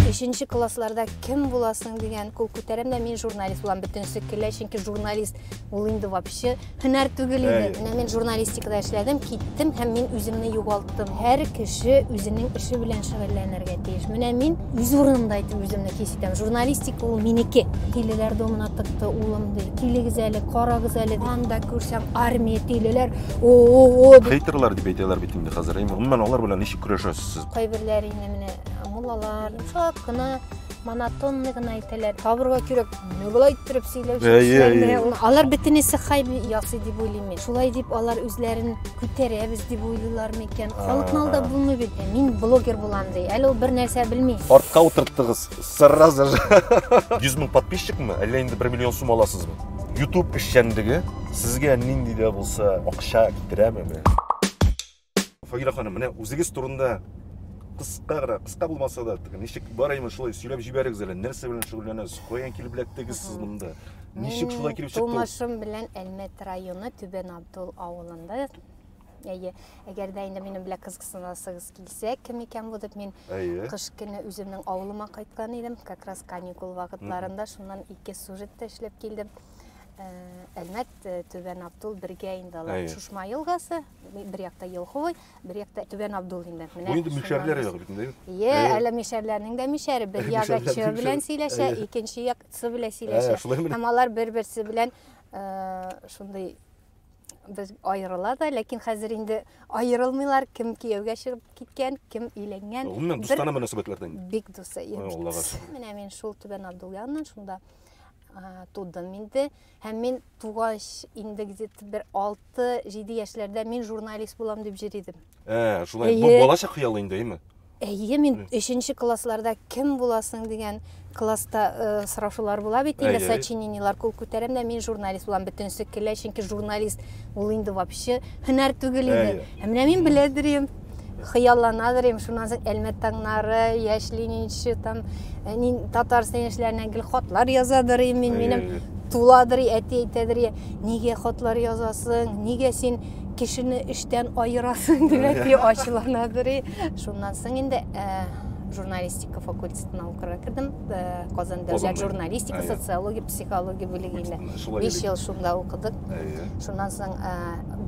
Өченче классларда кем буласың дигән кул күтәрәм дә мин журналист булам бөтенесе көлә чөнки журналист ул инде вообще һөнәр түгел иде менә мин журналистикада эшләдем киттем һәм мин үземне югалттым чыктым. Һәр кеше үзенең эше белән шөгыльләнергә тиеш. Менә мин үз урынымда итеп үземне хис итәм. Журналистика ул минеке. Тилеләр домына тыкты улым ди. Килегез әле, карагыз әле. Анда күрсәм армия тилеләр. О-о-о. Хейтерлар дип әйтәләр бит инде хәзер. Гомумән алар белән ничек көрәшәсез сез? Кайберләр инде менә муллалар, шак кына монотонный гына әйтәләр табырга кирәк менә болай иттереп сөйләүче алар бөтенесе хайп ясый дип уйлыйм мин шулай дип алар үзләрен күтәрәбез дип уйлыйлармы икән халыкны алдап булмый бит мин блогер булам ди әле ул бер нәрсә белми артка утырттыгыз сразу же йөз мең подписчикмы әллә инде бер миллион сум аласызмы ютуб эшчәнлеге сезгә нинди дә булса акча китерәме Фагилә ханым, менә үзегез турында кыска гына, кыска булмаса да, ничек бар имеш шулай сөйләп җибәрегез әле, нәрсә белән шөгыльләнәсез, каян килеп эләктегез сез монда? Ничек шулай килеп чыкты? Тумышым белән Әлмәт районы Түбән Абдул авылында Әйе, әгәр дә инде минем белән кызыксынасыгыз килсә, кем икән бу дип мин кыш көне үземнең авылыма кайткан идем, как раз каникул вакытларында шуннан ике сюжет та эшләп килдем. Әлмәт, Түбән Абдул бергә инде алар. Шушма елгасы, бер якта Елхой, бер якта Түбән Абдул инде. Менә. Бу инде мишәрләр ягы бит инде. Йә, әле мишәрләрнең дә мишәре бер ягы чы белән сөйләшә, икенче як сы белән сөйләшә. Һәм алар бер-берсе белән шундый без аерыла да, ләкин хәзер инде аерылмыйлар, кем кияүгә чыгып киткән, кем өйләнгән. Гомумән дустана мөнәсәбәтләрдән. Бик дусы. Менә мин шул Түбән Абдул яныннан шунда тудым инде. Һәм мин тугач, инде где-то бер 6-7 яшьләрдә мин журналист булам дип җыр идем. Ә, шулай. Бу балачак хыялы инде, әйме? Әйе, мин өченче классларда кем буласың дигән класста э, сорашулар була бит инде сочинениелар кул күтәрәм дә мин журналист булам бөтенесе көлә чөнки журналист ул инде вообще һөнәр түгел инде ә менә мин белә йөрим хыяллана берим шуннан соң әлмәт таңнары яшь ленинчы там э, татарстан яшьләренә гел хатлар язадыр идем мин минем туладыр әти әйтәдер нигә хатлар язасың нигә син кешене эштән аерасың дип әти ачуланадыр шуннан соң инде э, журналистика факультетына укырга кердем э, казан дәүләт журналистика социология психология бүлегендә биш ел шунда укыдык шуннан соң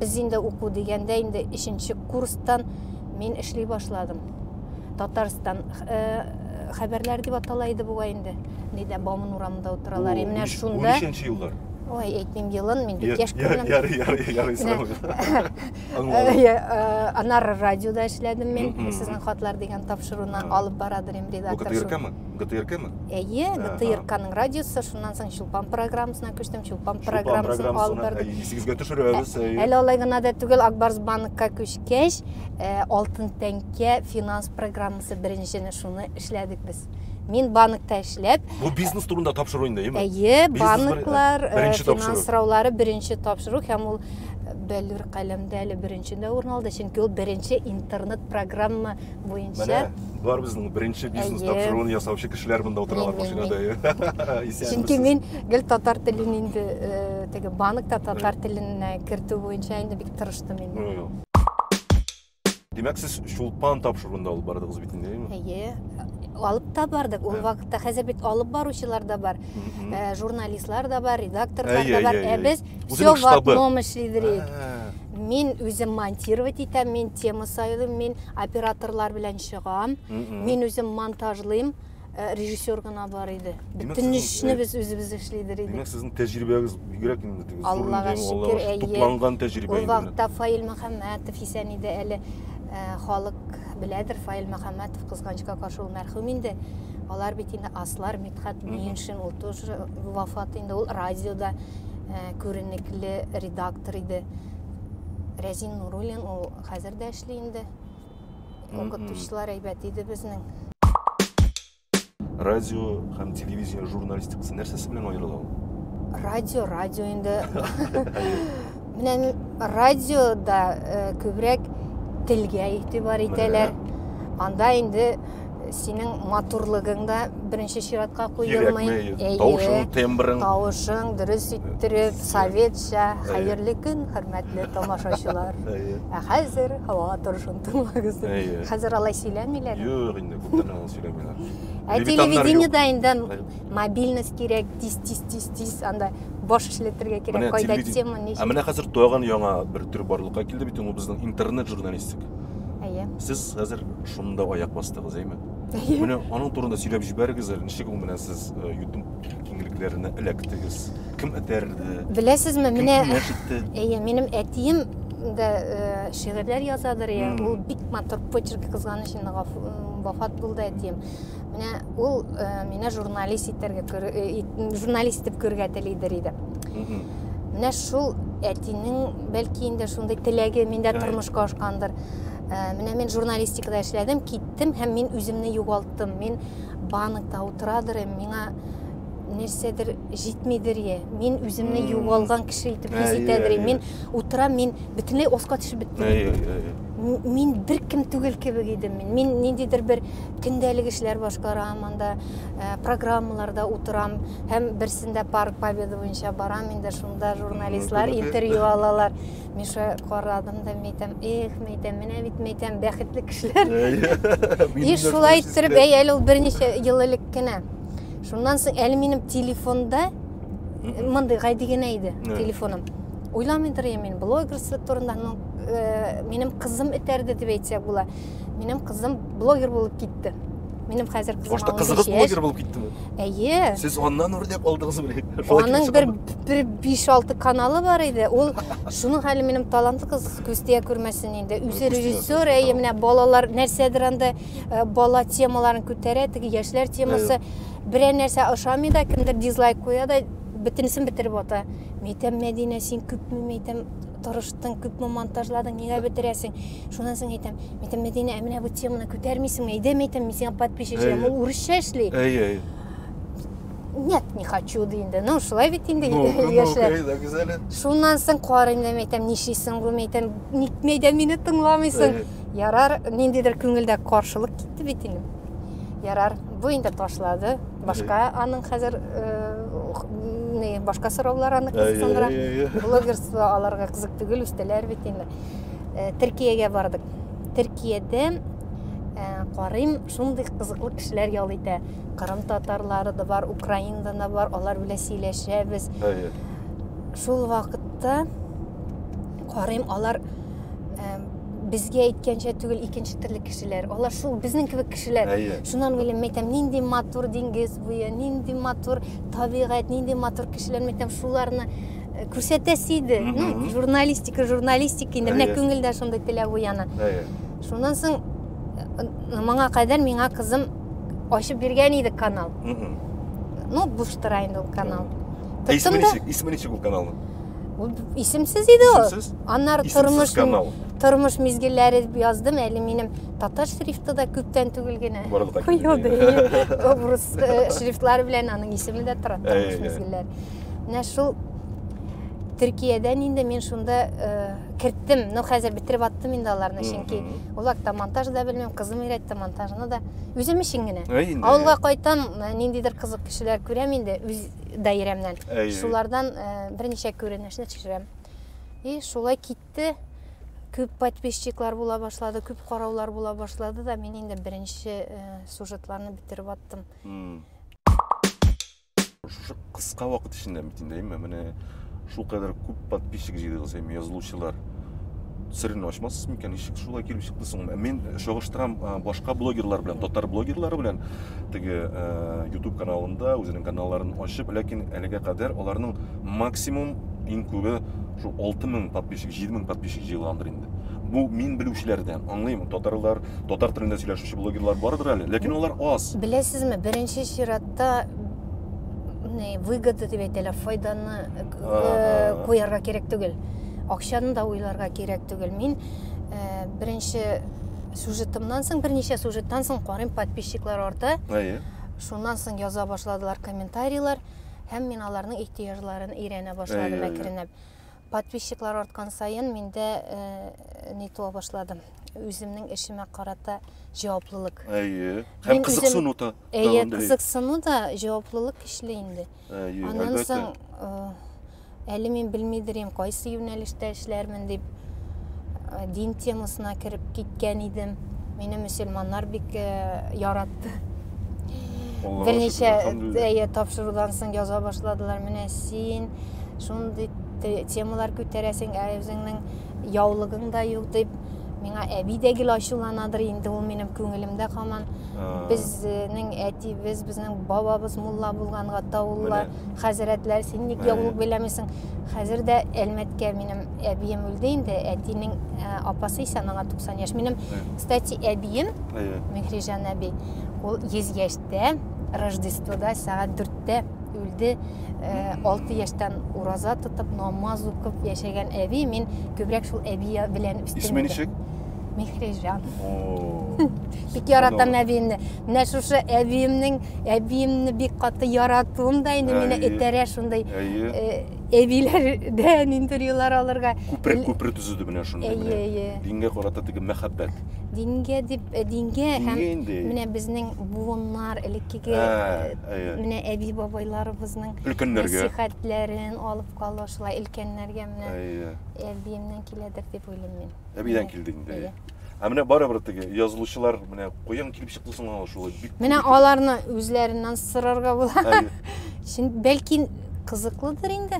без инде уку дигәндә инде өченче курстан мин эшли башладым. Татарстан э, хәбәрләр дип атала иде бугай инде. Нидә Бауман урамында утыралар. И менә шунда 13 еллар. Ой, әйтмим елын, мин бик яшь күренәм. Ярый, ярый, ярый, э, Анар радиода эшләдем мин. Сезнең хатлар дигән тапшыруны алып барадыр им редактор. ОКТРКмы? ГТРКмы? Әйе, ГТРКның радиосы, шуннан соң Чулпан программасына күчтем, Чулпан программасын алып бардык. Исегезгә төшерәбез. Әле алай гына да түгел, Акбарс банкка күчкәч, Алтын тәңкә финанс программасы беренчене шуны эшләдек без. Мин банкта эшләп. Бу бизнес турында тапшыру инде, әйеме? Әйе, банклар финанс сораулары беренче тапшыру һәм ул Бәллүр каләмдә әле беренче дә урын алды, чөнки ул беренче интернет программа буенча. Менә бар безнең беренче бизнес тапшыруын ясаучы кешеләр монда утыралар машинада. Исәнмесез. Чөнки мин гел татар телен инде э, теге банкта татар теленә кертү буенча инде бик тырыштым инде. Димәк, сез Чулпан тапшыруында алып бардыгыз бит инде, әйеме? Әйе. Алып та бардык. Ул вакытта хәзер бит алып баручылар да бар, э, журналистлар да бар, редакторлар да бар. Ә без все в одном эшлидек. Мин үзем монтировать итәм, мин тема сайлыйм, мин операторлар белән чыгам, мин үзем монтажлыйм, э, режиссер гына бар иде. Бөтен эшне э, без үзебез эшлидер идек. Димәк, сезнең тәҗрибәгез бигрәк инде теге Аллага шөкер, әйе. Тупланган тәҗрибә. Ул вакытта Фаил Мөхәммәтов исән иде әле. Э, халык беләдер Фаил Мөхәммәтов кызганычка каршы ул мәрхүм инде. Алар бит инде аслар, Митхат Миеншин, ул тоже вафат инде, ул радиода э, күренекле редактор иде. Рәзин Нуруллин ул хәзер дә эшли инде. Укытучылар әйбәт иде безнең. Радио һәм телевидение журналистикасы нәрсәсе белән аерыла ул? Радио, радио инде. Менә радиода э, күбрәк телгә игътибар итәләр. Анда инде Синең матурлыгың да беренче чиратка куелмый. Кирәкмәй. Тавышың, тембрың. Тавышың дөрес иттереп, советча. Хәерле көн, хөрмәтле тамашачылар. Ә хәзер һава торышын тыңлагыз. Хәзер алай сөйләмиләр. Юк инде, күптән аны сөйләмиләр. Ә телевидениедә инде мобильность кирәк тиз тиз тиз тиз анда баш эшләтергә кирәк кайда тема ни ә менә хәзер тагын яңа бер төр барлыкка килде бит ул безнең интернет журналистик әйе сез хәзер шунда аяк бастыгыз әйме менә аның турында сөйләп җибәрегез әле ничек ул менә сез э, ютуб киңлекләренә эләктегез кем этәрде беләсезме менә әйе минем әтием да э, шигырьләр язадыр я ул бик матур почерк кызганыч инде вафат булды әтием Менә ул э, мине журналист итәргә э, журналист итеп күрергә телидер иде. Менә шул әтинең бәлки инде шундый теләге миндә тормышка ашкандыр. Э, менә мин журналистикада эшләдем, киттем һәм мин үземне югалттым. Мин банкта утырадыр, миңа нәрсәдер җитмидер е мин үземне югалган кеше итеп хис итәдер мин утырам мин бөтенләй аска төшеп беттем мин бер кем түгел кебек идем мин мин ниндидер бер Көндәлек эшләр башкарам, анда программаларда утырам һәм берсендә Парк Победы буенча барам инде, шунда журналистлар интервью алалар. Миша карадым да мәйтәм, эх, мәйтәм, менә бит мәйтәм, бәхетле кешеләр. И шулай иттереп, әй әле ул берничә ел элек кенә. Шуннан соң әле минем телефонда мондый гади генә иде телефоным. Уйламый торам мин блогерство турында, ну, минем кызым этәрде дип әйтсәк була. Минем кызым блогер булып китте. Минем хәзер кызым Башта кызыгыз блогер булып киттеме? Әйе. Сез аннан үрнәк алдыгыз бит. Аның бер бер 5-6 каналы бар иде. Ул шуның хәле минем талантлы кыз Күстия күрмәсен инде. Үзе режиссер, әйе, менә балалар нәрсәдер анда э, бала темаларын күтәрә, теге яшьләр темасы. Берәр нәрсә ошамый да, кемдер дизлайк куя да, бөтенесен бетереп ата. Мәйтәм, Мәдинә, син күпме мәйтәм тырыштың, күпме монтажладың, нигә бетерәсең? Шуннан соң әйтәм, әйтәм, Мәдинә, ә менә бу теманы күтәрмисеңме? Әйдәм әйтәм, мин сиңа подписчикларым, ул урысча эшли. Әй, әй. Нет, не хочу ди инде. Ну, шулай бит инде яшьләр. Шуннан соң карыйм да әйтәм, нишлисең бу? Әйтәм, никме дә мине тыңламыйсың? Ярар, ниндидер күңелдә каршылык китте бит инде. Ярар, бу инде ташлады. Башка аның хәзер не башка сораулар аны кызыксындыра. Блогерство аларга кызык түгел, үстеләр бит инде. Төркиягә бардык. Төркиядә карыйм, шундый кызыклы кешеләр ял итә. Кырым татарлары да бар, Украинадан да бар, алар белән сөйләшәбез. Шул вакытта карыйм, алар безгә әйткәнчә түгел икенче төрле кешеләр алар шул безнең кебек кешеләр әйе шуннан уйлыйм мен әйтәм нинди матур диңгез буе нинди матур табигать нинди матур кешеләр мен әйтәм шуларны э, күрсәтәсе иде ну журналистика журналистика инде менә күңелдә шундый теләк уяна әйе шуннан соң э, моңа кадәр миңа кызым ачып биргән иде канал ну буш тора инде ул канал тоттым да исеме ничек ул каналның Ул исемсез иде ул. Исемсез? Аннары Исемсез тормыш канал. тормыш мизгелләре дип яздым. Әле минем татар шрифты да күптән түгел генә. Борылга килде. Куелды. инде. Рус э, шрифтлары белән аның исеме дә тора. Тормыш Әй, әй. мизгелләре. Менә шул Төркиядән инде мин шунда э, керттем. Ну, хәзер бетереп аттым инде аларны, чөнки Мгм. ул хакта монтаж да белмим, кызым өйрәтте монтажны да. Үзем өчен генә. Әй, инде. Авылга кайтам, э, ниндидер кызык кешеләр күрәм инде, үз даирәмнән. Шулардан берничә күренешне төшерәм. И шулай китте, күп подписчиклар була башлады, күп караулар була башлады да, мин инде беренче сюжетларны бетереп аттым. Шушы кыска вакыт эчендә митиндәйме, менә Шулкадәр күп подписчик җыйдыгыз һәм язылучылар. Серен ачмассыз микән? Ничек шулай килеп чыкты соң? Мин чагыштырам башка блогерлар белән, татар блогерлары белән теге YouTube каналында үзенең каналларын ачып, ләкин әлегә кадәр аларның максимум иң күбе шул 6000 подписчик, 7000 подписчик җыйгандыр инде. Бу мин белүчеләрдән, аңлыйм, татарлар, татар телендә сөйләшүче блогерлар бардыр әле, ләкин алар аз. Беләсезме, беренче чиратта не выгода дип әйтәләр файданы э, э, куярга кирәк түгел акчаны да уйларга кирәк түгел мин э, беренче сюжетымнан соң берничә сюжеттан соң карыйм подписчиклар арта әйе шуннан соң яза башладылар комментарийлар һәм мин аларның ихтыяҗларын өйрәнә башладым әкренләп Подписчиклар арткан саен миндә э, не то башладым. Үземнең эшемә карата җаваплылык. Әйе. Һәм Мин кызыксыну да. Әйе, кызыксыну да җаваплылык көчле инде. Әйе, Аннан соң э, әле мин белмидерим, кайсы юнәлештә эшләрмен дип э, дин темасына кереп киткән идем. Мине мөселманнар бик э, яратты. Берничә тапшырудан соң яза башладылар. Менә син Шундый темалар күтәрәсең, ә үзеңнең яулыгың да юк дип, миңа әби дә гел ачуланадыр инде, ул минем күңелемдә һаман. Безнең әтибез, безнең бабабыз мулла булганга таулла хәзрәтләр, син ник яулык бәйләмисең? Хәзер дә Әлмәткә минем әбием үлде инде, әтинең апасы исә аңа 90 яшь. Минем, кстати, әбием, Мехрижан әби, ул 100 яшьтә, Рождествода сәгать 4-тә үлде э, алты яшьтән ураза тотып намаз укып яшәгән әби мин күбрәк шул әби белән үстем исеме ничек мехрижан бик яратам әбиемне менә шушы әбиемнең әбиемне бик каты яратуым да инде мине этәрә шундый э, әбиләрдән интервьюлар алырга күпер күпер төзеде менә шундый әйе әйе дингә карата теге мәхәббәт дингә дип э, дингә һәм менә безнең буыннар элеккеге Әйе. Менә әби-бабайларыбызның өлкәннәргә нәсихәтләрен алып калу шулай өлкәннәргә менә Әйе. әбиемнән киләдер дип уйлыйм мин. Әбидән килде инде. Әйе. Ә менә барыбер теге язылучылар менә каян килеп чыкты соң аңа шулай бик Менә аларны үзләреннән сорарга була. Чын бәлки кызыклыдыр инде.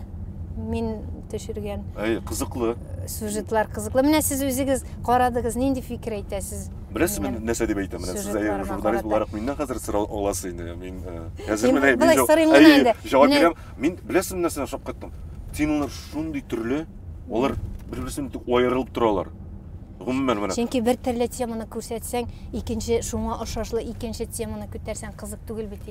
Мин төшергән. Әйе, кызыклы. Сюжетлар кызыклы. Менә сез үзегез карадыгыз, нинди фикер әйтәсез? Беләсез мин нәрсә дип әйтәм? Менә сез әйе журналист буларак миннән хәзер сорау аласыз инде. Мин хәзер менә мин җавап бирәм. Мин беләсез нәрсә шок кыттым. Темалар шундый төрле, алар бер-берсеннән бик аерылып торалар. Гомумән менә. Чөнки бер төрле теманы күрсәтсәң, икенче шуңа ошашлы икенче теманы күтәрсәң кызык түгел бит.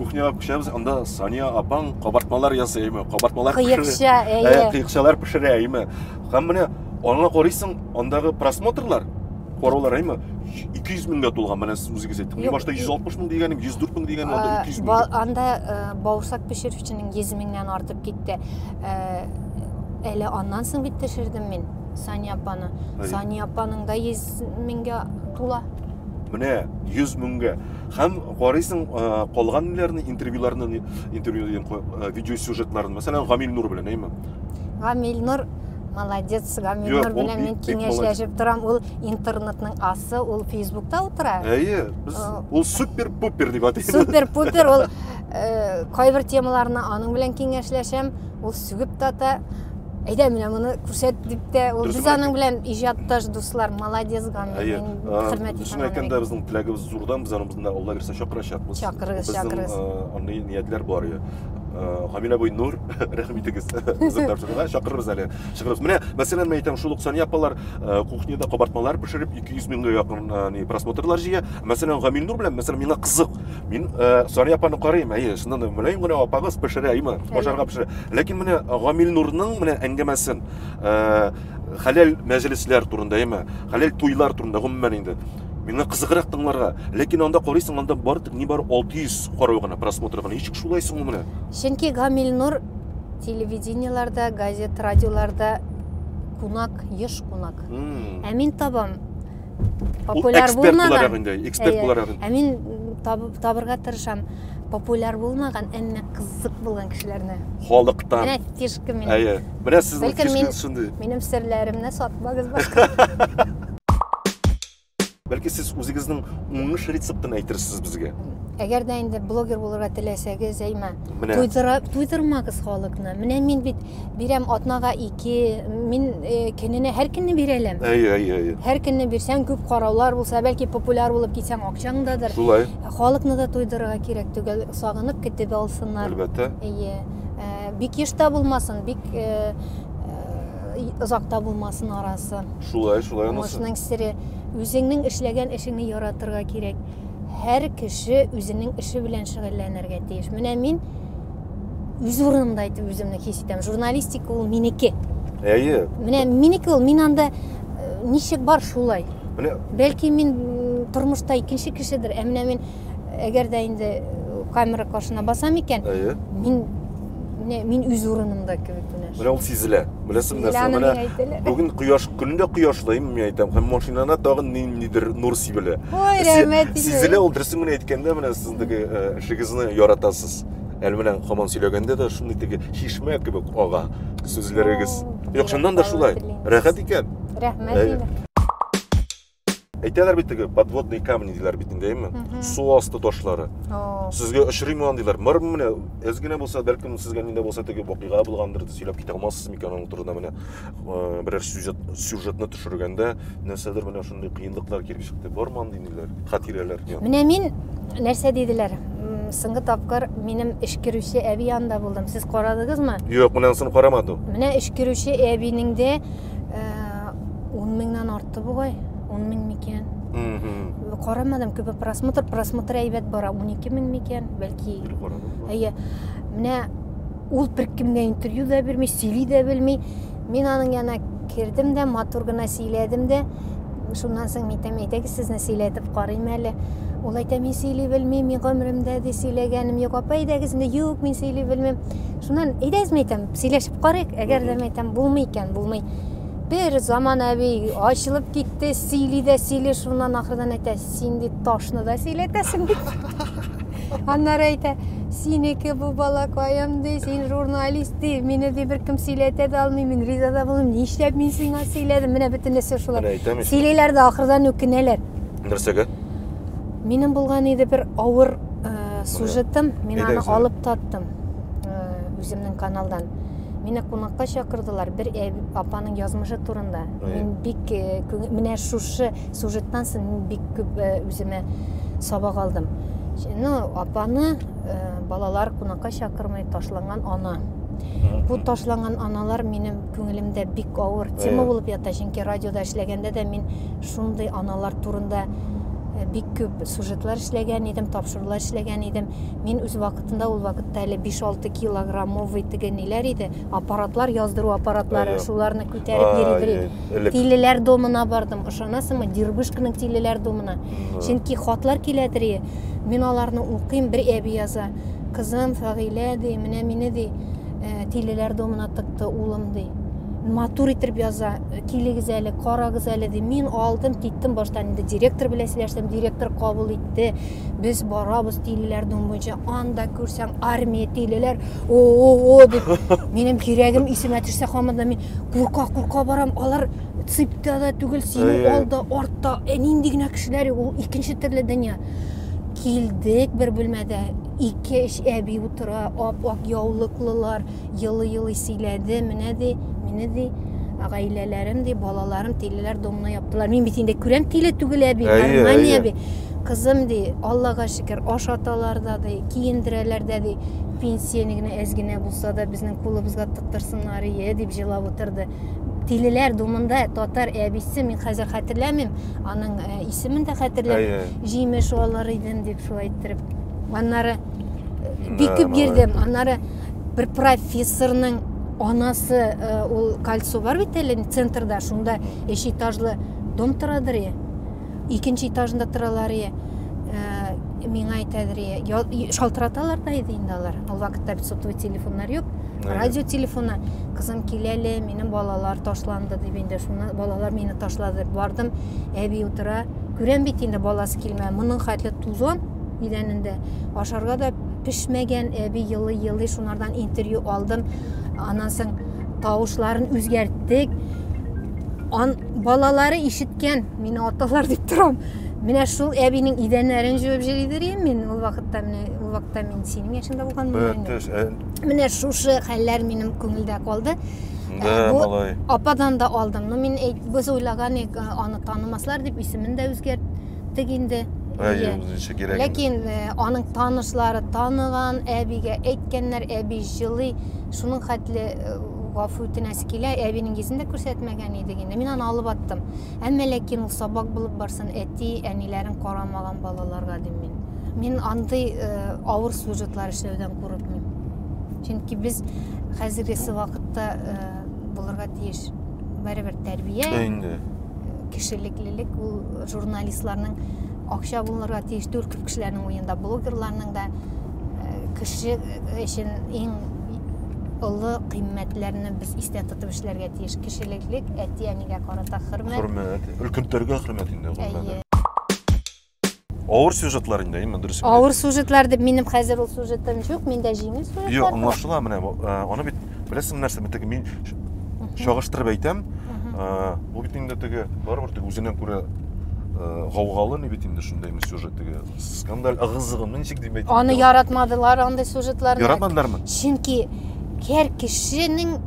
кухняга күчәбез анда сания апаң кабартмалар ясый әйме кабартмалар кыекча әйе ә, кыекчалар пешерә әйме һәм менә аңа карыйсың андагы просмотрлар караулар әйме ике йөз меңгә тулган менә сез үзегез әйттегез мин башта йөз алтмыш мең дигәнем йөз дүрт мең дигәнем анда ике йөз мең анда э, баусак пешерүченең йөз меңнән артып китте э, әле аннан соң бит төшердем мин сания апаны сания апаның да йөз меңгә тула менә йөз меңгә Һәм карыйсың калган ниләрне, интервьюларны, интервью дигән э, видеосюжетларын, мәсәлән, Гамил Нур белән, әйме? Гамил Нур Молодец, Гаминур белән мин киңәшләшеп торам. Ул интернетның асы, ул Фейсбукта утыра. Әйе, без ул супер-пупер дип атыйбыз. Супер-пупер ул э, кайбер темаларны аның белән киңәшләшәм. Ул сүгеп тата. Әйдә, менә моны күрсәт дип тә, ул без аның белән иҗатташ дуслар. Молодец, Гаминур. Әйе, хөрмәт итәм. Безнең теләгебез Зурдан без аның безне Алла бирсә чакырачакбыз. Чакырыгыз, чакырыгыз. Безнең андый ниятләр бар иде. Гамилә буй Нур, рәхим итегез. Үзем тапшырырга чакырырбыз әле. Чыгырыз. Менә, мәсәлән, мен әйтәм, шул ук Сания апалар кухняда кабартмалар пешереп 200 меңгә якын ни просмотрлар җыя. Мәсәлән, Гамил Нур белән, мәсәлән, миңа кызык. Мин Сания апаны карыйм, әйе, шуннан да мөлаем генә апагыз пешерә, әйме, башарга пешерә. Ләкин менә Гамил Нурның менә әңгәмәсен, хәләл мәҗлесләр турында, әйме, хәләл туйлар турында, гомумән инде. Миңа кызыграк тыңларга. Ләкин анда карыйсың, анда бар тик ни бар 600 карау гына, просмотр гына. Ничек шулай соң ул менә? Чөнки Гамилнур телевидениеларда, газет, радиоларда кунак, еш кунак. Ә мин табам популяр булмаган. Эксперт буларак инде. Ә мин табырга тырышам популяр булмаган, әмма кызык булган кешеләрне. Халыктан. Менә фишка мин. Бераз сез Бәлкем мин- фишканы шундый. Минем серләремне сатмагыз башка. Бәлки сез үзегезнең уңыш рецептын әйтерсез безгә. Әгәр дә инде блогер булырга теләсәгез, әйма. Менә Туйдыра, туйдырмагыз халыкны. Менә мин бит бирәм атнага ике, мин э, көненә һәр көнне бирәләм. әй әй әй. Һәр көнне бирсәң күп караулар булса, бәлки популяр булып китсәң акчаңдадыр. Шулай, Халыкны да туйдырырга кирәк түгел, сагынып көтеп алсыннар. әлбәттә. Әйе. Ә, бик еш та булмасын, бик э, э, озак та булмасын арасы. Шулай, шулай анысы. Уңышның сере үзеңнең эшләгән эшеңне яратырга кирәк. Һәр кеше үзенең эше белән шөгыльләнергә тиеш. Менә мин үз урынымда итеп үземне хис итәм. Журналистика ул минеке. Әйе. Менә минеке ул, мин анда э, ничек бар шулай. Менә Бәлки мин м, тормышта икенче кешедер, ә менә мин әгәр дә инде камера каршына басам икән әйе мин не мин үз урынымда кебек менә менә ул сизелә беләсеңме нәрсә менә бүген кояш көн дә кояшлы мин әйтәм һәм машинада тагын ниндидер нур сибелә ой рәхмәт сизелә ул дөресен генә әйткәндә менә сез теге эшегезне яратасыз әле менә хаман сөйләгәндә дә шундый теге чишмә кебек ага сүзләрегез юк чыннан да шулай рәхәт икән рәхмәт әйтәләр бит теге подводные камни диләр бит инде әйме су асты ташлары сезгә очрыймы аны диләр мыр менә әз генә булса бәлкем сезгә нидә булса теге вакыйга булгандыр сөйләп китә алмассыз микән аның турында менә э, берәр сюжет сюжетны төшергәндә нәрсәдер менә шундый кыенлыклар килеп чыкты бармы андый ниләр хатирәләр менә мин нәрсә диделәр соңгы тапкыр минем эшкерүче әби янында булдым сез карадыгызмы юк менә ансын карамадым менә эшкерүче әбинең дә э, он меңнән артты бугай он мең микән карамадым күбе просмотр просмотр әйбәт бара он ике мең микән бәлки әйе менә ул беркемгә интервью да бирми сөйли дә белми мин аның янына кердем дә матур гына сөйләдем дә шуннан соң мин әйтәм әйдәгез сезне сөйләтеп карыйм әле ул әйтә мин сөйли белмим мин гомеремдә дә сөйләгәнем юк апа әйдәгез инде юк мин сөйли белмим шуннан әйдәгез мин әйтәм сөйләшеп Карыйк, әгәр дә мәйтәм, булмый икән, булмый. Бер заман әби ачылып китте, сөйли дә сөйли, шуннан ахырдан әйтә, син бит ташны да сөйләтәсең бит. Аннары әйтә, синеке бу балакаем, ди, син журналист, ди, мине ди беркем сөйләтә дә алмый, мин риза да булмыйм, нишләп мин сиңа сөйләдем, менә бөтен нәрсә шулай. Сөйлиләр дә ахырдан үкенәләр. Нәрсәгә? Минем булган иде бер авыр сюжетым, мин аны алып таттым. үземнең каналдан Мине кунакка чакырдылар бер апаның язмышы турында. Мин бик менә шушы сюжеттан соң мин бик күп үземә сабак алдым. Ну, апаны балалар кунакка чакырмый ташланган ана. Бу ташланган аналар минем күңелемдә бик авыр тема булып ята, чөнки радиода эшләгәндә дә мин шундый аналар турында бик күп сюжетлар эшләгән идем, тапшырулар эшләгән идем. Мин үз вакыт Анда ул вакытта әле 5-6 килограммовый теге ниләр иде, аппаратлар, яздыру аппаратлары, Ая. шуларны күтәреп Ай, йөридер ай, идек. элек. Тилеләр домына бардым, ышанасыңмы, Дербышканың тилеләр домына. Да. Чөнки хатлар киләдер и, мин аларны укыйм, бер әби яза. Кызым, Фәгыйлә, ди, менә мине, ди, э, тилеләр домына тыкты улым, ди. Матур итеп яза, килегез әле, карагыз әле, ди. Мин алдым, киттем, баштан инде директор белән сөйләштем, директор кабул итте. китте. Без барабыз тилеләр дом буенча. Анда күрсәң армия тилеләр. О-о-о дип. Минем кирәгем исемә төшсә хамында мин курка курка барам. Алар ципта да түгел, синең алда, артта. Ә нинди генә кешеләр, ул икенче төрле дөнья. Килдек бер бүлмәдә. Ике эш әби утыра, ап-ак яулыклылар. елый-елый сөйләде, менә ди, мине ди, гаиләләрем ди, балаларым тилеләр домны яптылар. Мин бит инде күрәм тиле түгел әби, гармония би. Кызым ди, Аллага шөкер, ашаталар да ди, киендерәләр дә ди, пенсияне генә әз генә булса да безнең кулыбызга тыктырсыннар ие дип җылап утырды. Тилеләр думында татар әбисе, мин хәзер хәтерләмим, аның э, исемен дә хәтерләмим, җимеш алыр идем дип шулай иттереп. Аннары э, бик күп йөрдем, аннары бер профессорның анасы э, ул кольцо бар бит әле центрда шунда өч этажлы дом торадыр е икенче этажында торалар е э, миңа әйтәдер е шалтыраталар да иде инде алар ул вакытта сотовый телефоннар юк радио телефоны кызым кил әле минем балалар ташланды дип инде шуннан балалар мине ташлады бардым әби утыра күрәм бит инде баласы килмә моның хәтле тузан идәнендә ашарга да пешмәгән әби елый елый шунардан интервью алдым аннан соң тавышларын үзгәрттек Ан, балалары ишеткән мин аталар дип торам менә шул әбинең идәннәрен җуып җөри дөрим мин ул вакытта менә ул вакытта мин синең яшеңдә булганмын менә шушы хәлләр минем күңелдә калды да малай ападан да алдым но мин без уйлаган идек аны танымаслар дип исемен дә үзгәрт киттек инде. Әйе, үзенчә кирәк. Ләкин э, аның танышлары таныган, әбигә әйткәннәр, әби җылый. Шуның хәтле э, гафу үтенәсе килә, әбинең йөзен дә күрсәтмәгән идек инде. Мин аны алып аттым. Әмма ләкин ул сабак булып барсын, әти, әниләрен карамаган балаларга дим мин. Мин андый э, авыр сюжетлар эшләүдән курыкмыйм. Чөнки без хәзергесе вакытта э, булырга тиеш. Барыбер тәрбия. Дә инде. Кешелеклелек ул журналистларның акча булырга тиеш түгел күп кешеләрнең уенда, блогерларның да э, кеше өчен иң олы кыйммәтләрне без истә тотып эшләргә тиеш. Кешелеклек, әти-әнигә карата хөрмәт. Хөрмәт. Өлкәннәргә хөрмәт инде гомумән. Авыр сюжетлар инде, әйеме, дөрес инде. Авыр сюжетлар дип минем хәзер ул сюжетым юк, миндә җиңел сюжетлар. Юк, аңлашыла менә. Э, аны бит беләсең нәрсә, бит теге мин чагыштырып әйтәм. Э, бу бит инде теге барыбер теге үзенә күрә э, гаугалы ни бит инде шундый сюжет теге скандаль ыгызыгы ничек дип әйтә. Аны яратмадылар андый сюжетларны. Яратмадылармы? Чөнки һәр кешенең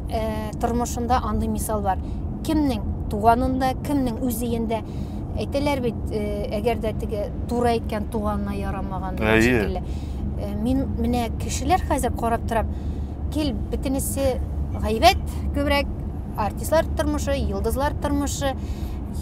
тормышында андый мисал бар. Кемнең туганында, кемнең үз өендә Әйтәләр бит, э, әгәр дә теге туры әйткән туганына ярамаган дигән Әйе. шикелле. Э, Мин менә кешеләр хәзер карап торам, кил бөтенесе гайбәт күбрәк, артистлар тормышы, йолдызлар тормышы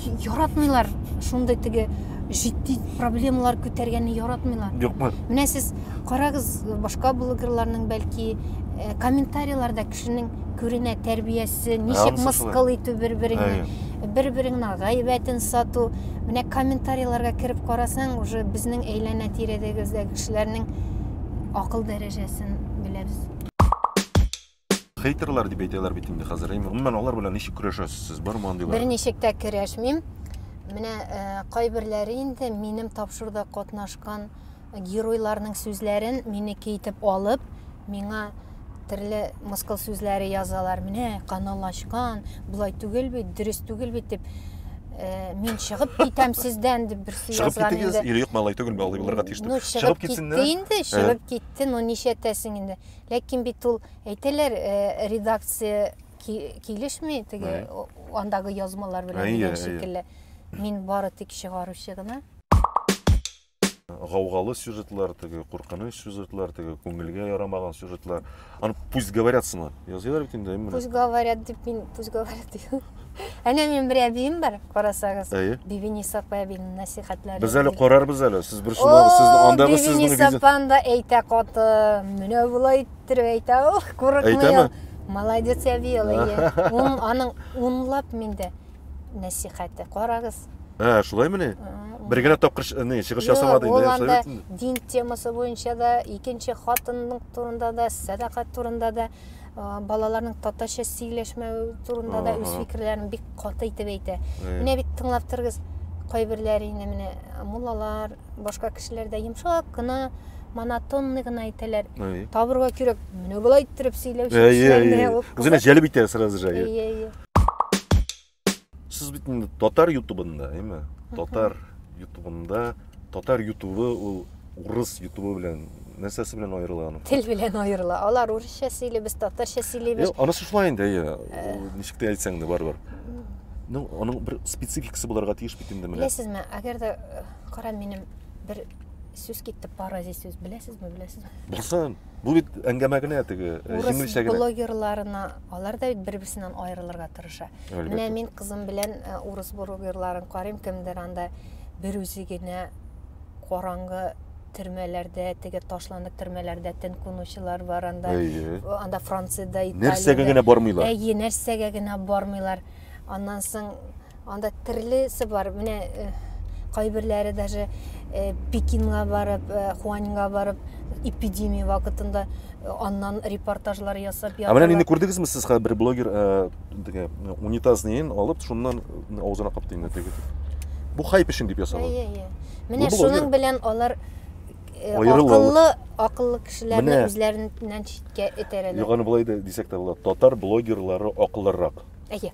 Й- яратмыйлар шундый теге җитди проблемалар күтәргәнне яратмыйлар. Юкмы? Менә сез карагыз башка блогерларның бәлки э, комментарийларда кешенең күренә тәрбиясе, ә, ничек мыскыл итү бер-береңне, бер-береңнең гайбәтен сату. Менә комментарийларга кереп карасаң, уже безнең әйләнә тирәдәгездәге кешеләрнең акыл дәрәҗәсен беләбез. Хейтерлар дип әйтәләр бит инде хәзер. Гомумән алар белән ничек көрәшәсез сез? Бармы андыйлар? Берничек тә көрәшмим. Менә э, кайберләре инде минем тапшыруда катнашкан Геройларның сүзләрен минеке итеп алып, миңа төрле мыскыл сүзләре язалар. Менә канал ачкан, болай түгел бит, дөрес түгел бит дип э, мин чыгып китәм сездән дип берсе Чыгып язган китегез, инде. или юк малай түгел, малай булырга тиеш Ну, дип. чыгып китте китсеннәр. Э. инде, чыгып китте, ну нишәтәсең инде. Ләкин бит ул әйтәләр, э, редакция ки- килешми теге Әйе. о- андагы язмалар белән Әйе, дигән әйе. шикелле. Мин бары тик чыгаручы гына. гаугалы сюжетлар теге куркыныч сюжетлар теге күңелгә ярамаган сюжетлар аны пусть говорят сыман языйлар бит инде пусть говорят дип мин пусть говорят дим әнә минем бер әбием бар карасагыз әйе бибинис апа әбинең нәсихәтләре без әле карарбыз әле сез бер шунда сез андагы сез бибинис апаны да әйтә каты менә болай иттереп әйтә ох курыкмый әйтәме молодец әби ул әйе аның унлап миндә нәсихәте. Карагыз. Ә, шулай менә? Бер генә тапкыр не чыгыш ясамады инде. Ул анда дин темасы буенча да, икенче хатынның турында да, сәдакат турында да, балаларның татарча сөйләшмәү турында да үз фикерләрен бик каты итеп әйтә. Менә бит тыңлап торыгыз, кайберләре инде менә муллалар, башка кешеләр дә йомшак кына монотонный гына әйтәләр. Табырга кирәк. Менә болай иттереп сөйләүче. Әйе, әйе. Үзенә җәлеп итә сразу же. Әйе, әйе. сез бит инде татар ютубында әйме татар ютубында татар ютубы ул урыс ютубы белән нәрсәсе белән аерыла аның тел белән аерыла алар урысча сөйли без татарча сөйлибез анысы шулай инде әйе э. ничек тә әйтсәң дә барыбер ну аның бер спецификасы булырга тиеш бит инде менә беләсезме әгәр дә э, кара минем бер сүз китеп бара здесь сүз беләсезме беләсезме белсен Бу бит әңгәмә генә теге э, җиңелчә генә. блогерларына алар да бит бер-берсеннән аерылырга тырыша. Әлбәттә. Менә мин кызым белән э, урыс блогерларын карыйм, кемдер анда бер үзе генә караңгы төрмәләрдә, теге ташланып төрмәләрдә тен кунучылар бар анда. Әйе. Э, Анда Франциядә, Италиядә. Нәрсәгә генә бармыйлар. Әйе, нәрсәгә генә бармыйлар. Аннан соң Анда төрлесе бар. Менә э, кайберләре даже э, Пекинга барып, э, Хуанинга барып, эпидемия вакытында э, аннан репортажлар ясап Ә менә нинди күрдегезме сез хәзер бер блогер э, теге э, унитаз неен алып, шуннан э, авызына капты инде теге. Бу хайп өчен дип ясалган. Әйе, әйе. Менә Бу блогер. шуның белән алар э, Аерыла акыллы, акыллы кешеләрне Менә. үзләреннән читкә этәрәләр. Юганы болай да дисәк тә була. Татар блогерлары акыллырак. Әйе.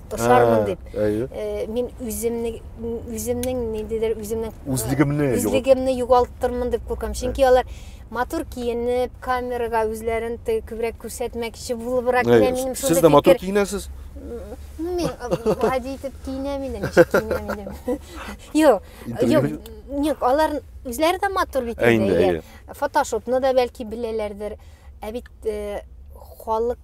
посармын дип. Э, мин үземне үземнең ниндидер үземнең э, үзлегемне үзлегемне югалтырмын дип куркам. Чөнки алар матур киенеп, камерага үзләрен күбрәк күрсәтмәкче булыбрак килә минем шундый. Сез дә матур киенәсез. Ну, мин гади итеп киенәм инде, ничек киенәм инде. Юк, юк, юк, алар үзләре дә матур бит инде. Фотошопны да бәлки беләләрдер. Ә бит э, халык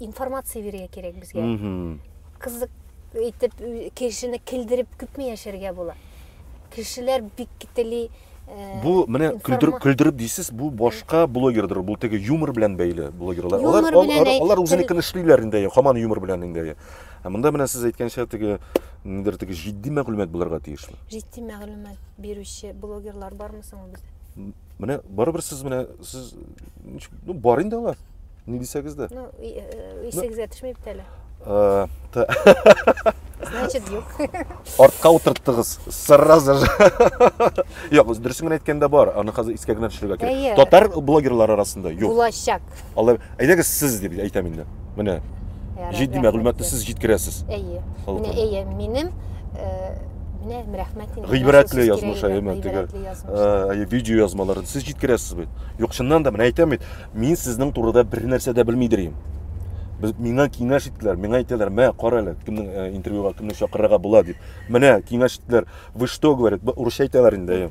информация бирергә кирәк безгә кызык итеп кешене килдереп күпме яшәргә була кешеләр бик тели э, бу менә көлдереп көлдереп дисез бу башка блогердыр бу теге юмор белән бәйле блогерлар алар алар, алар үзенекен тел... эшлиләр инде хаман юмор белән инде ә монда менә сез әйткәнчә теге нидер теге җитди мәгълүмат булырга тиешме җитди мәгълүмат бирүче блогерлар бармы соң бездә Менә барыбер сез менә сез ну бар инде алар. Ни дисәгез дә. Ну, исегез дә төшми бит әле. Значит, юк. Артка утырттыгыз. Сразу же. Юк, дөресен генә әйткәндә бар. Аны хәзер искә генә төшерергә кирәк. Татар блогерлар арасында юк. Булачак. Алар, әйдәгез сез дип әйтәм инде. Менә җитди мәгълүматны сез җиткерәсез. Әйе. Менә әйе, минем э, менә рәхмәт инде. Гыйбрәтле язмыш әйеме теге. Э, видео язмаларын сез җиткерәсез бит. Юк, чыннан да менә әйтәм бит, мин сезнең турыда бер нәрсә дә белмидер идем. Миңа киңәш иттеләр, миңа әйтәләр, "Мә, кара әле, кемнең э, интервьюга, кемне чакырырга була" дип. Менә киңәш иттеләр. Вы что, говорит, урысча әйтәләр инде.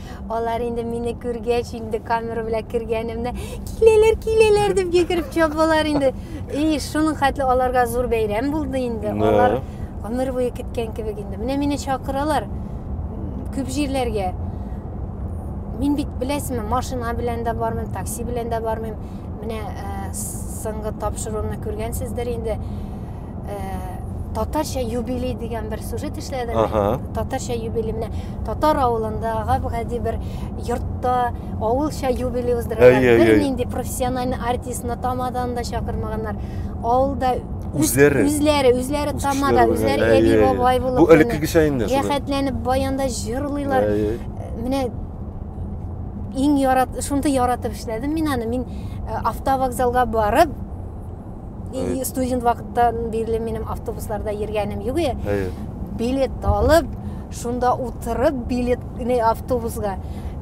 Алар инде мине күргәч, инде камера белән кергәнемне, киләләр, киләләр дип йөгереп чабалар инде. И, шуның хәтле аларга зур бәйрәм булды инде. Да. Алар гомер буе көткән кебек инде. Менә мине чакыралар күп җирләргә. Мин бит беләсезме, машина белән дә бармыйм, такси белән дә бармыйм. Менә э, соңгы тапшыруымны күргәнсездер инде. э, татарча юбилей дигән бер сюжет эшләдем. Ага. Татарча юбилей менә татар авылында гади бер йортта авылча юбилей уздыралар. Бер нинди профессиональный артистны тамадан да чакырмаганнар. Авылда үзләре үзләре үзләре тамада үзләре әби бабай булып бу элеккегечә инде рәхәтләнеп баянда җырлыйлар менә иң ярат шундый яратып эшләдем мин аны мин э, автовокзалга барып Э, студент вакыттан бирле минем автобусларда йөргәнем юк е э. билет алып шунда утырып билет не автобусга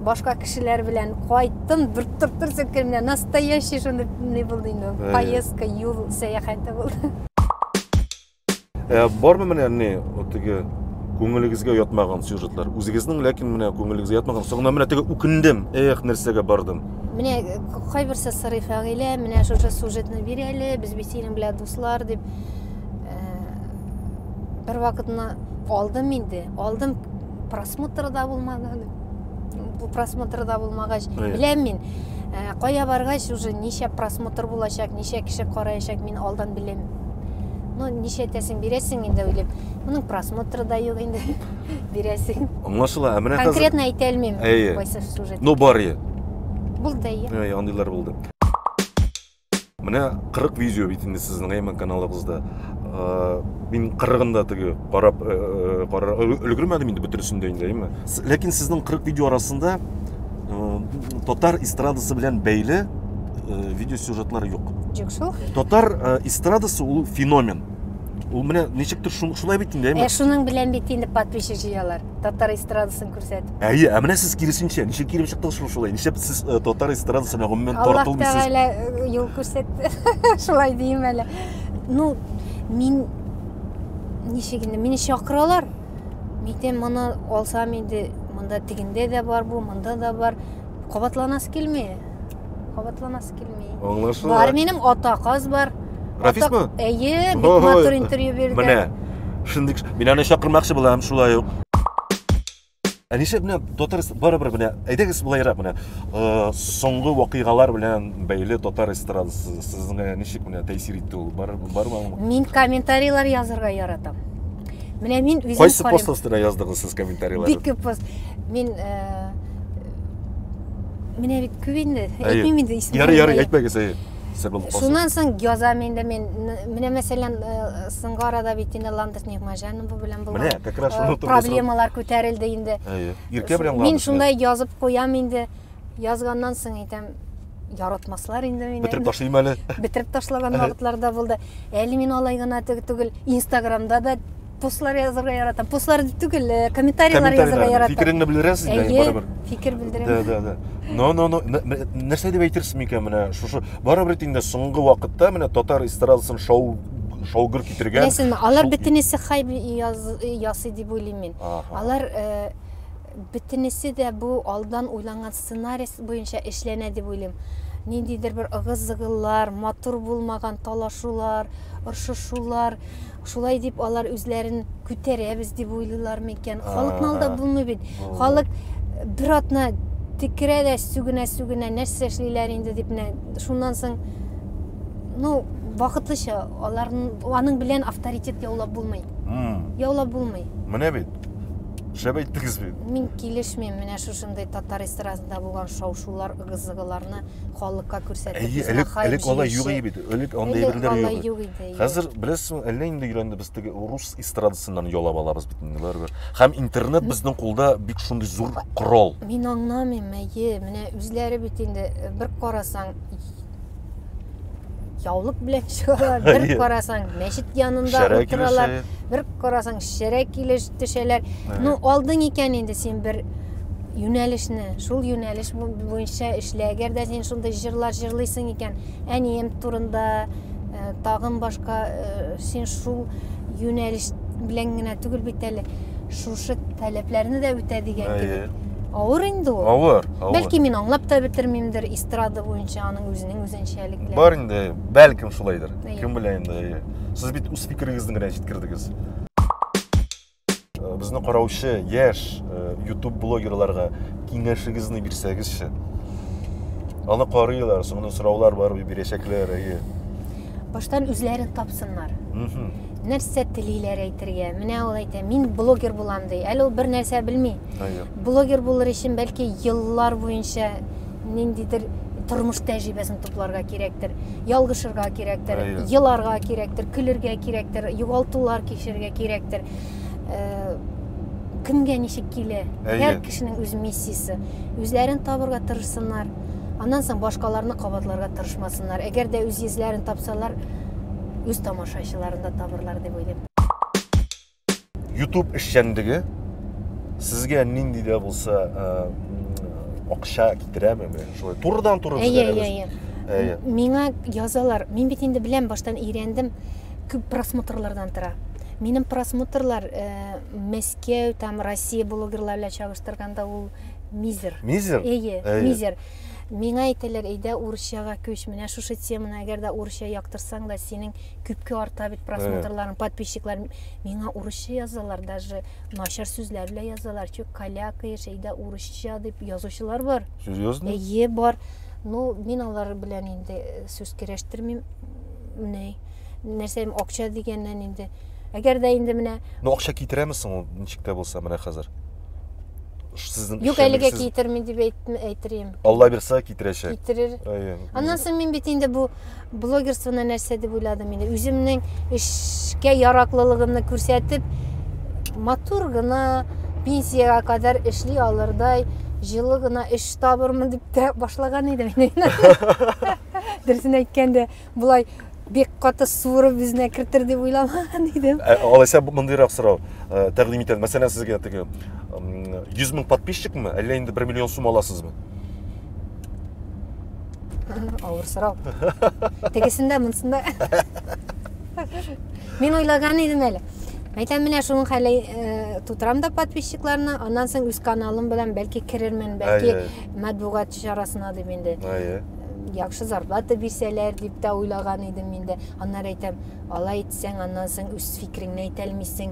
башка кешеләр белән кайттым бер тыртыр сәткәннә настоящий шундый не булды инде э. поездка юл сәяхәте булды Ә бармы менә не теге күңелегезгә ятмаган сюжетлар? Үзегезнең, ләкин менә күңелегезгә ятмаган. Соңына менә теге үкендем. Эх, нәрсәгә бардым. Менә э, кайберсе сорый Фәгыйлә, менә шушы сюжетны бир әле, без бит синең белән дуслар дип. Э, бер вакытны алдым инде, алдым просмотр да булмады бу просмотр да булмагач беләм мин ә, кая баргач уже ничә просмотр булачак ничә кеше караячак мин алдан беләм ну ничә тәсен бирәсең инде уйлыйм моның просмотры да юк инде бирәсең аңлашыла ә менә хәзер конкретно әйтә алмыйм кайсы сюжет ну бар е булды е андыйлар булды Менә 40 видео бит инде сезнең әймән каналыгызда. Мин 40-ында теге карап карар өлгермәдем инде бөтенесен дә инде, әйме? Ләкин сезнең 40 видео арасында татар эстрадасы белән бәйле видео сюжетлары юк. Юк шул. Татар эстрадасы ул феномен. Ул менә ничектер шулай бит инде, әйме? Ә шуның белән бит инде подписчик җыялар. татар эстрадасын күрсәтеп. Әйе, ә менә сез киресенчә, ничек килеп чыктыгыз шул шулай? Ничек сез э, татар эстрадасы белән гомумән тартылмыйсыз? Аллаһ Тәгалә э, юл күрсәтте. Шулай дим әле. Ну, мин ничек инде, мине чакыралар. Митем моны алсам инде, монда тегендә дә бар бу, монда да бар. Кабатланасы килми. Кабатланасы килми. Аңлашыла. Бар минем ата каз бар. Рафисмы? Әйе, бик матур интервью бирде. Менә. Шундый. Мин аны чакырмакчы булам, шулай ук. Ә нишләп менә татар барыбер менә әйдәгез булайрак менә э, соңгы вакыйгалар белән бәйле татар эстрадасы сезгә ничек менә тәэсир итте ул бар бармы? Мин комментарийлар язырга яратам. Менә мин үзем Кайсы пост астына яздыгыз сез комментарийлар? Бик күп пост. Мин э, менә бит күп инде әйтмим инде ярый ярый әйтмәгез әйе шуннан соң язам инде мен менә мәсәлән соңгы арада бит инде ландыш нигмажанова белән булган менә как раз шуны проблемалар күтәрелде инде әйе иркә белән мин шундай язып куям инде язганнан соң әйтәм яратмаслар инде мине бетереп ташлыйм әле бетереп ташлаган вакытларда булды әле мин алай гына түгел инстаграмда да постлар язырга яратам постлар түгел э, комментарийлар язырга яратам фикереңне белдерәсез дә әйе барыбер фикер белдерәм да да да но но но нәрсә дип әйтерсез микән менә шушы барыбер инде соңгы вакытта менә татар эстрадасын шау шаугыр китергән беләсезме алар бөтенесе хайп ясый дип уйлыйм мин алар э, бөтенесе дә бу алдан уйланган сценарий буенча эшләнә дип уйлыйм ниндидер бер ыгыз зыгыллар матур булмаган талашулар ыршышулар Шулай дип алар үзләрен күтәрәбез дип уйлыйлар микән? Халыкны алдап булмый бит. Халык э, бер атна тикерә дә сүгенә-сүгенә нәрсә эшлиләр инде дип менә шуннан соң ну вакытлыча алар аның белән авторитет яулап булмый. Яулап булмый. Менә бит. Шәп әйттегез бит. Мин килешмим менә шушындый татар эстрадасында булган шау-шулар, ыгы-зыгыларны. халыкка күрсәтеп. Әйе, элек, элек алай юк иде. Элек андый әйберләр юк. юк иде. Хәзер беләсең, әллә инде өйрәнде без теге рус эстрадасыннан ялап алабыз бит инде барыбер. Һәм интернет безнең кулда бик шундый зур корал. Мин аңламыйм, әйе, менә үзләре бит инде э, бер карасаң яулык белән чыгалар, бер карасаң мәчет янында утыралар, бер Карасаң, шәрә килеш төшәләр. Ну, алдың икән инде син бер юнәлешне, шул юнәлеш буенча эшлә. Әгәр дә син шундый җырлар җырлыйсың икән, әнием турында, э, тагын башка э, син шул юнәлеш белән генә түгел бит әле шушы таләпләрне дә үтә дигән Әйе. кебек. Авыр инде ул. Авыр, авыр. Бәлки мин аңлап та бетермимдер эстрада буенча аның үзенең үзенчәлекләре. Бар инде, бәлкем шулайдыр. Әйе. Кем белә инде, әйе. сез бит үз фикерегезне генә җиткердегез э, безне караучы яшь э, ютуб блогерларга киңәшегезне бирсәгезче аны карыйлар соңыннан сораулар бар бирәчәкләр әйе баштан үзләрен тапсыннар нәрсә телиләр әйтергә менә ул әйтә мин блогер булам ди әле ул бер нәрсә белми блогер булыр өчен бәлки еллар буенча ниндидер тормыш тәҗрибәсен тупларга кирәктер ялгышырга кирәктер еларга кирәктер көлергә кирәктер югалтулар кичерергә кирәктер э, кемгә ничек килә һәр кешенең үз миссиясе үзләрен табырга тырышсыннар аннан соң башкаларны кабатларга тырышмасыннар әгәр дә үз йөзләрен тапсалар үз тамашачыларын да табырлар дип уйлыйм YouTube эшчәнлеге сезгә нинди дә булса э, м, акча китерәме? Менә шулай турыдан туры Әйе, әйе, әйе. Әйе. Миңа язалар. Мин бит инде беләм, баштан өйрәндем. Күп просмотрлардан тора. Минем просмотрлар э, Мәскәү, там Россия блогерлары белән чагыштырганда ул мизер. Мизер? Әйе, Әйе. мизер. Миңа әйтәләр, әйдә урысчага күч. Менә шушы теманы әгәр дә урысча яктырсаң да, синең күпкә арта бит просмотрларың подписчиклар миңа урысча язалар даже начар сүзләр белән язалар чү калякая шәйдә урысча дип язучылар бар серьезно әйе бар ну мин алар белән инде э, сүз керәштермим менә нәрсә акча дигәннән инде әгәр дә инде менә ну акча китерәме соң ул ничек тә булса менә хәзер сезнең юк әлегә китерми дип әйтер идем алла бирса китерәчәк китерер аннан соң мин бит инде бу Блогерствоны нәрсә дип уйладым инде. Үземнең эшкә яраклылыгымны күрсәтеп, матур гына пенсиягә кадәр эшли алырдай җылы гына эш табырмын дип тә башлаган идем инде. Дөресен әйткәндә, болай бик каты суырып үзенә кертер дип уйламаган идем. Ә, алайса мондыйрак сорау ә, тәкъдим итәм. Мәсәлән, сезгә теге 100 мең подписчикмы, әллә инде 1 миллион сум аласызмы? Авыр сорау. Тегесендә, монсында. Мин уйлаган идем әле. Мәйтәм менә шуның хәле э, тутырам да подписчикларны, аннан соң үз каналым белән бәлки керермен, бәлки матбугат чарасына дип инде. Әйе. Яхшы зарплата бирсәләр дип тә уйлаган идем мин дә. Аннары әйтәм, алай итсәң, аннан соң үз фикереңне әйтә алмыйсың.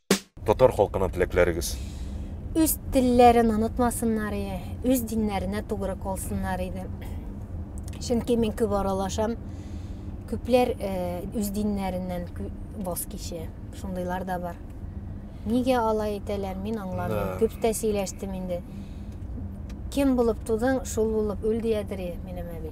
Татар халкына теләкләрегез? Үз телләрен онытмасыннар и үз диннәренә тугры колсыннар иде. Чөнки мин күп аралашам. Күпләр э, үз диннәреннән боз кичә. Шундыйлар да бар. Нигә алай итәләр, мин аңламыйм. Күп тә сөйләштем инде. Кем булып тудың, шул булып үл диядер минем әби.